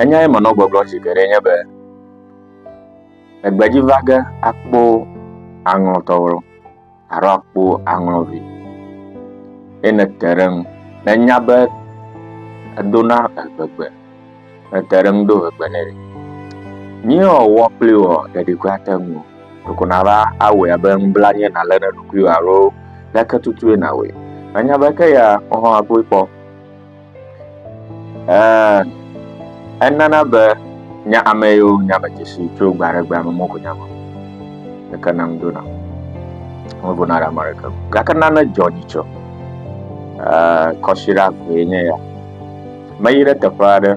Enyae menɔ gbɔgblɔ zi geɖe nye be, egbedzi va ge akpɔ aŋlɔtɔwo alo akpɔ aŋlɔvi. Ye nete ɖe ŋu. Nenya be edona egbegbe. Nete ɖe ŋu do egbe nɛ. Nyɔ wɔ kpli wɔ ɖeɖi kura te ŋu. Ɖeko nava awɔe abe ŋbla nye nalé ɖe ɖokuiwò alo leke tutue nawɔe. Nanya be ke ya wohã akpɔe kpɔ. Ɛɛ, enana be nya ame yiwo nya me dzesi tso gbe aɖe gbe ame mɔko nya me. Ɖeke nam do na. Wo go na ɖe ame ɖeke. Gake nane dzɔ dzi tsɔ. Ɛɛ, kɔsiɖa vee nye ya. Meyi ɖe teƒe aɖe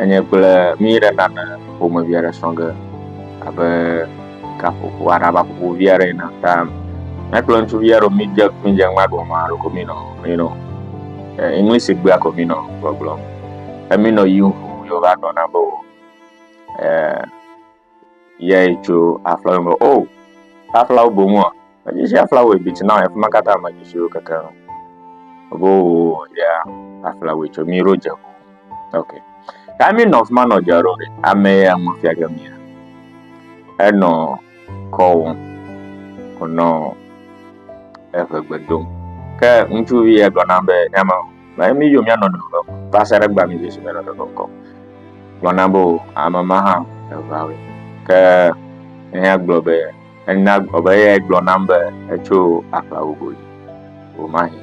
enye kple mi ɖe nane ƒomevi aɖe srɔ̃ ge abe gaƒoƒo aɖe ava ƒoƒo vi aɖe yina ta mía kple ŋutsuvi aɖewo mídze mídze ŋgba ɖo ma ɖo ko mínɔ mínɔ english gbea ko mínɔ gbɔgblɔm emínɔ yi ŋu yewo va gblɔ na be o yɛ tso aflawo me o aflawo boŋua Medzi sia flawɛ bi tsi na efi ma katã medzi siwo keke ŋu. Ebo ya aflawɛ tso mi ro dze. Ok. Ya mi nɔ fi ma nɔ dze ro ɖe. Ame ya mo fia ke mi. Enɔ kɔwo. Onɔ eve gbedo. Ke ŋutsuvi ya gblɔ na be ya ma. Ba mi yo mi anɔ do ko. Va se ɖe gba mi Yesu me nɔ do ko. Gblɔ na bo amama ha evawe. Ke ne ya gblɔ be Ena gbɔ be eyae gblɔ nam be etso aƒla gogo dzi. Womahi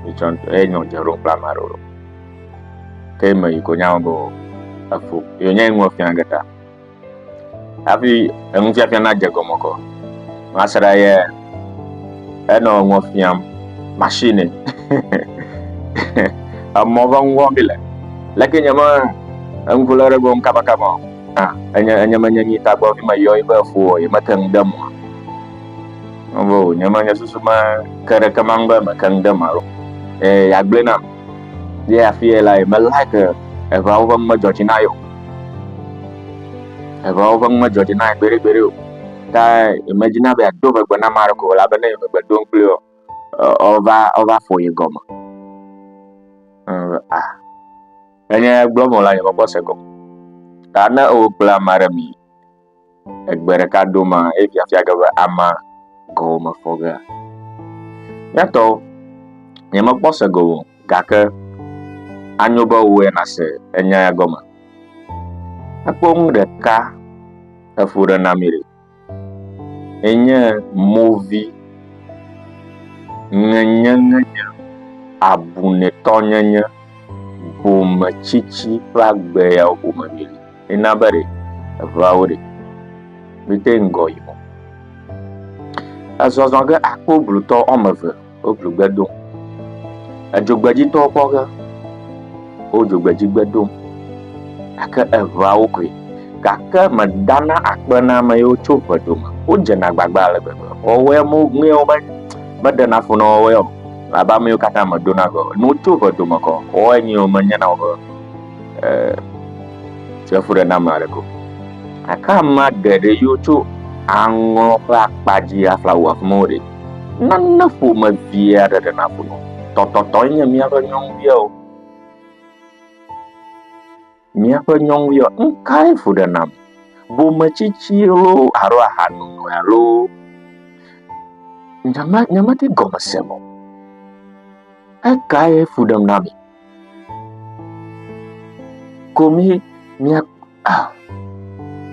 mitsɔ ŋutɔ ye nyɔ dze ɖom kple ame aɖewo ɖo. Ke me yi ko nya be efo ye nya ŋu fia ge ta. Hafi enu fia fia na dze gɔme kɔ. Masra ye enɔ ŋu fiam machine. Emɔ va ŋu wɔm bi le. Leke nyama enu ko le ɖe gɔm kaba kaba. Ah, enye enye menye nyi tagbɔ fi meyɔ yi be fo ye mete ŋu de mo. Ovo nye menye susu me ke ɖe ke mang be me ke ŋu de ma lo. E ya gblé nam. Ye afi ye la ye me like evawo ƒe me dzɔ dzi na yo. Evawo ƒe me dzɔ dzi na gbe ɖe gbe ɖe o. Ta ye me dzi na be do megbe na ma ko la be ne ye megbe do kple yo. Ova ova fo ye gɔme. Ah, Menye gblɔ vɔ la yebɔkpɔ se gɔme. Ta ne ewo kple ama ɖe mi egbe ɖeka do ma eye fiafia ge be ama gɔwo me fɔ gea? Nyatɔ, nyemekpɔ se gɔme o, gake anyo be wò ya nase enya ya gɔme. Ekpɔ nu ɖeka eƒo ɖe na mi ɖe. Enye movi, ŋenyenyenye, abunɛtɔnyenye, bometsitsi kple agbe yawo ƒome míeli. Ena be ɖe eŋeawo ɖe mete ŋu gɔ yi mɔ. Ezɔzɔ ge akpɔ blutɔ woame eve. woʋligbe dom. Edzogbedzitɔwo kpɔ ge wo dzogbedzigbe dom gake eŋeawo koe gake medana akpe na ame yiwo tso ŋe dome o. Wodzena agbagba ale gbegbe. Wɔwɔe me ŋee wobe meɖena fu na wɔwɔe o abe ame yiwo katã meɖona ŋe o. Ne wotso ŋe dome kɔ wɔwɔe nyuie wo menyena woƒe e efuɖename aɖeke o. Gake amea geɖe yiwo tso aŋɔ ƒe akpa dzi afla wu afi ma wo ɖe. Nane ƒomevi aɖe ɖe naƒo nu. Tɔtɔtɔe nye míaƒe nyɔnuvia o. Míaƒe nyɔnuvia nu kae ƒo ɖe nam? Bometsitsi loo alo ahanono alo nyema nyemedi gɔme se o. Ekae ƒo ɖem na mi? Ko mi mia a.